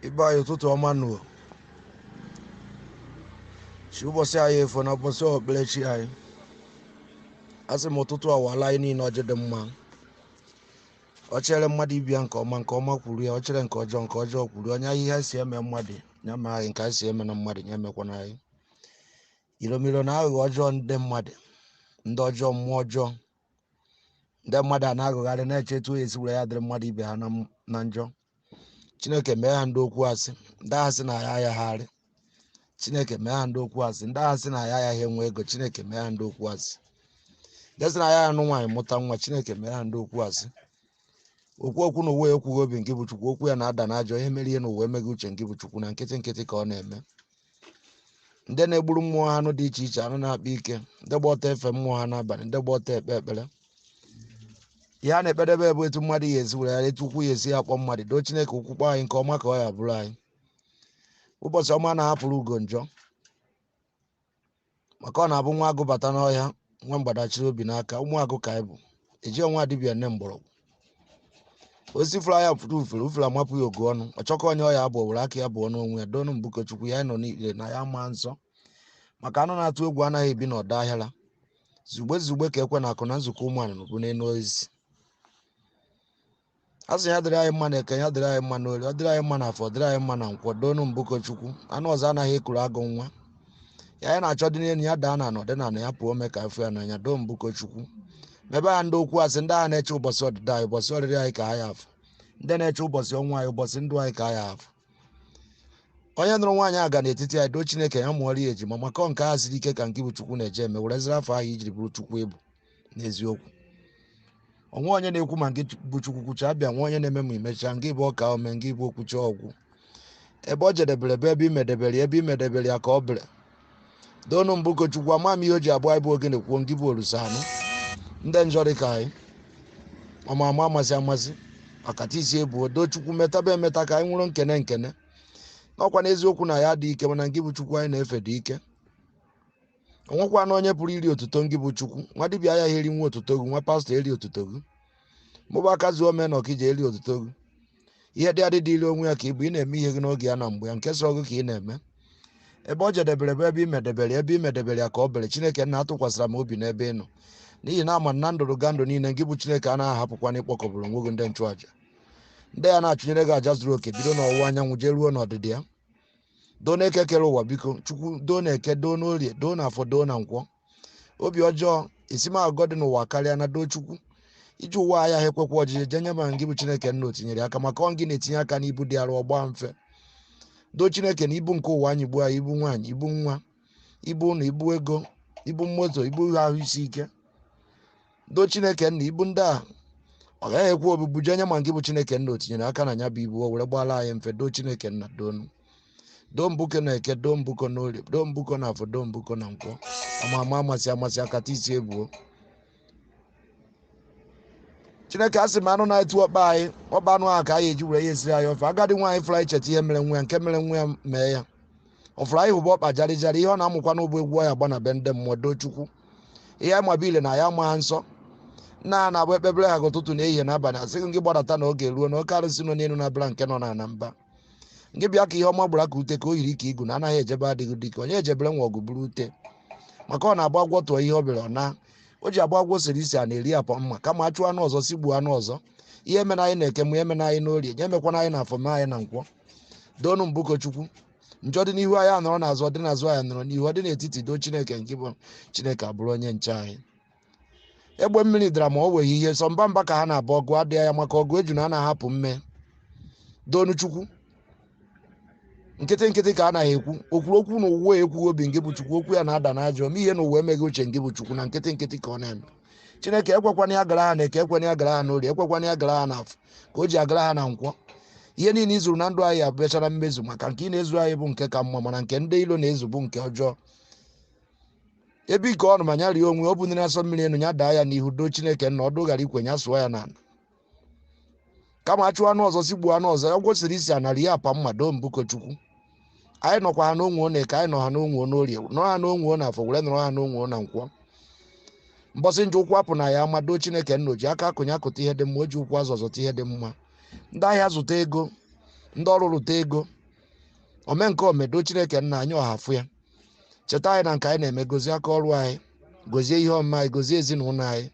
ibe anyị ụtụtụ ọma nụ chi ụbọchị anyị efo na ụbọchị okpukperechi anyị asị m ụtụtụ awala anyị niile ọjị dị mma ọ chere mmadụ ibia nke ọma nke ọma kwuru ya ọ chere nke ọjọọ nke ọjọọ kwuru ya onye ahụ ihe si eme mmadụ ya mee anyị nke anyị sị emena mmadụ ya emekwana anyị iromiro na aghụghọ ọjọọ ndị mmadụ ndị ọjọọ mmụọ ọjọọ ndị mmadụ a na-agagharị na-eche etu ọ ya esi were ya dịrị mmadụ ibe ha na njọ chineke mee ha ndị okwu asị ndị ahụ sị na anyị ayaghị arị chineke mee ha ndị okwu asị ndị ahụ sị na anyị ayaghị enwe ego chineke mee ha ndị okwu asị ndị sị na ya anụ nwaanyị mụta nwa chineke mee ha ndị okwu asị okwu okwu n'ụwa ekwughị obi ngị bụ chukwu okwu ya na-ada n'aja onye mere ihe n'ụwa emeghị uche ngị bụ chukwu na nkịtị nkịtị ka ọ na-eme ndị na-egburu mmụọ ha anụ dị iche iche anụ na-akpa ike ndị gba ọtọ efe mmụọ ha n'abalị ndị gba ọtọ ekpe ekpere ihe ha na-ekpedebe bụ etu mmadụ ya esi were ya etu ụkwụ ya esi ya akpọ mmadụ doo chineke ụkwụ kpọọ anyị nke ọma ka ọ ya abụrụ anyị ụbọchị ọma na-ahapụrụ ugo njọ maka ọ na-abụ nwa agụ bata n'ọhịa nwa mgbada chiri obi n'aka ụmụ agụ ka anyị bụ ejirọ nwa dibịa ene mgbọrọgwụ osisi fụrụ anya fụrụ ufere ufere amapụ ya ogu ọnụ ọ chọkọ onye ọ ya egbu ọ were aka ya gbuo onwe ya doonu mbụkọ chukwu anyị nọ n'ikpere na-ayọ maa nsọ maka anụ na-atụ egwu anaghị ebi n'ọdọ ahịara zugbe zugbe ka ekwe na-akụ na nzukọ ụmụ nnụnụ bụ n'elu osisi a sị ya dịrị anyị mma na eke ya dịrị anyị mma n'ori ọ dịrị anyị mma n'afọ dịrị anyị mma na nkwọ doonu mbụko chukwu anụ ọzọ anaghị ekuru agụ nwa ihe anyị na-achọ dị n'elu ya daa n'ana ọ dị n'ana ya pụọ ome ka a fụ ya n'anya doo mbụko chukwu mebe ha ndị okwu asị ndị ahụ na-eche ụbọchị ọdịda anyị ụbọchị ọrịrị anyị ka ha ya afụ ndị na-eche ụbọchị ọnwụ anyị ụbọchị ndụ anyị ka ha ya afụ onye nụrụ nwaanyị aga n'etiti anyị doo chineke ya mụọrọ ya ejima maka nke a siri ike ka ngị bụ chukwu na-eje eme were ziri afọ ahụ i jiri bụrụ chukwu ị bụ n'eziokwu o nwe onye na-ekwu ma ngị bụ chukwu kwucha abịa nwe onye na-eme ma i mecha ngị bụ ọka ome ngị bụ okwucha ọ gwụ ebe ọ jedebere bụ ebe i medebere ebe i medebere ya ka ọ bere doonu mbụko chukwu ama m ihe o ji abụ anyị bụ ogene kwuo ngị bụ olisa anụ ndị njọ dị ka anyị ama ama amasị amasị akata isi ebuo doo chukwu metaba emeta ka anyị nwụrụ nkene nkene n'ọkwa n'eziokwu na ya dị ike mana ngị bụ chukwu anyị na-efe dị ike o nwekwana onye pụrụ iri otuto ngị bụ chukwu nwa dibịa ya erina otuto gị nwa pastọ eri otuto gị ma ọ bụ aka zuo ome na ọkija eri otuto gị ihe dị adị dịrị onwe ya ka ị bụ ị na-eme ihe gị n'oge ya na mgbe ya nke sọ gị ka ị na-eme ebe ọ jedebere bụ ebe i medebere ebe i medebere ya ka ọ bere chineke nna atụkwasịra m obi n'ebe ị nọ n'ihi na ama na ndụrụgandụ niile gị bụ chineke a na-ahapụkwana ịkpọkọbara onwe gị ndị nchụaja ndị ya na-achụnyere gị aja zuru oke bido n'ọwụwa anyanwụ jee ruo n'ọdịda ya doo na eke kere ụwa biko chukwu doo na eke doo n'orie doo na afọ doo na nkwọ obi ọjọọ esi m agụgọ dị n'ụwa karịa na doo chukwu ije ụwa ayaha ekwekwa ojije jenye ma ngị bụ chineke nna o tinyere aka maka ọ ngị na-etinye aka n'ibu dị arụ ọ gbaa mfe doo chineke na ibu nke ụwa anyịgbuo anyị ibu nwaanyị ibu nwa ibu ụlọ ibu ego ibu moto ibu ahụ isi ike doo chineke nna ibu ndị a ọ gaghị ekwe obibu jenye ma ngị bụ chineke nna o tinyere aka na ya bụ ibu o were gbaala anyị mfe doo chineke nna doonu doo mbuko na eke doo mbuko na orie doo mbuko na afọ doo mbuko na nkwọ ama ama amasị amasị akata isi ebuo chineke a sị m anụ na-etu ọkpa anyị ọkpa anụ ahụ ka anyị eji were ya esiri anyị ofe agadi nwaanyị fụrụ anyị cheta ihe mere nwa ya nke mere nwa ya mee ya ọ fụrụ anyị hụba ọkpa jarị jarị ihe ọ na-amụkwa n'ubu egwu ọ ya-agba na be ndị mmụọ doo chukwu ihe anyị maba ile na ya ma ha nsọ nna ha na-abụ ekpebere ha ka ụtụtụ na ehihie na abalị asịghị gị gbadata na oge ruo na oke arụsị nọ n'elu na-abịara nke nọ na na mba ngị bịa ka ihe ọma gbara ka ute ka o yiri ka igu na anaghị ejebe adịghị dike onye ejebere nwa ọgụ buru ute maka ọ na-agba agwọ tụọ ihe ọ bịara ọ na o ji agba agwọ siri isi a na-eri apọ mma kama achụ anụ ọzọ si gbuo anụ ọzọ ihe emena anyị na eke ihe emena anyị n'orie nya emekwana anyị na afọ mee anyị na nkwọ doonu mbuko chukwu njọ dị n'ihu anyị anọrọ n'azụ ọ dị n'azụ anyị anọrọ n'ihu ọ dị n'etiti doo chineke ngị bụ chineke abụrụ onye nche anyị egbe mmiri dara ma o weghị ihe sọ mba mba ka ha na-aba ọgụ adịghị ya maka ọgụ ejuna anaha apụ mme doonu chukwu nkịtị nkịtị ka a naghị ekwu o kwuru okwu na ụwa ekwughị obi ngị bụ chukwu okwu ya na-ada n'aja ome ihe na ụwa emeghị uche ngị bụ chukwu na nkịtị nkịtị ka ọ na-eme chineke ekwekwana ya gara ha na eke ekwena ya gara ha n'orie ekwekwana ya gara ha n'afọ ka o ji agara ha na nkwọ ihe niile i zuru na ndụ anyị abịachara mmezu maka nke ị na-ezu anyị bụ nke ka mma mana nke ndị ilo na-ezu bụ nke ọjọọ ebe ike ọnụma nya rie onwe ọ bụniri asọ mmiri enu ya daa ya n'ihu doo chineke nna ọdụ ghara ikwe ya sụọ ya n'ala kama achụ anụ ọzọ si gbuo anụ ọzọ ya kwesịrị isi ana rie apa mma doo mbuko chukwu anyị nọkwa ha n'onwe na eke anyị nọ ha n'onwe n'orie nọ ha n'onwe na afọ were nọrọ ha n'onwe na nkwọ mbọsị njọ ụkwụ apụna anyị ama doo chineke nna o ji aka akụ nya akụta ihe dị mma o ji ụkwụ azọ ọ zọta ihe dị mma ndị ahịa zụta ego ndị ọrụ rụta ego omenka o mee doo chineke nna anyị ọhafụ ya cheta anyị na nke anyị na-eme gozie aka ọrụ anyị gozie ihe ọmụma anyị gozie ezinụlọ anyị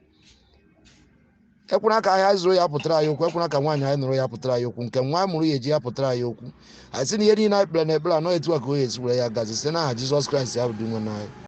ekwena ka ahịa anyị zụrụ ya pụtara anyị okwu ekwena ka nwaanyị anyị nụrụ ya pụtara anyị okwu nke nwa mụrụ ya eji ya pụtara anyị okwu anyị sị na ihe niile anyị kpere na ekpere na ọ etu a ka ọ ya-esi were ya gazi site n'aha jizọs kraịst ya bụ dinwenụ anyị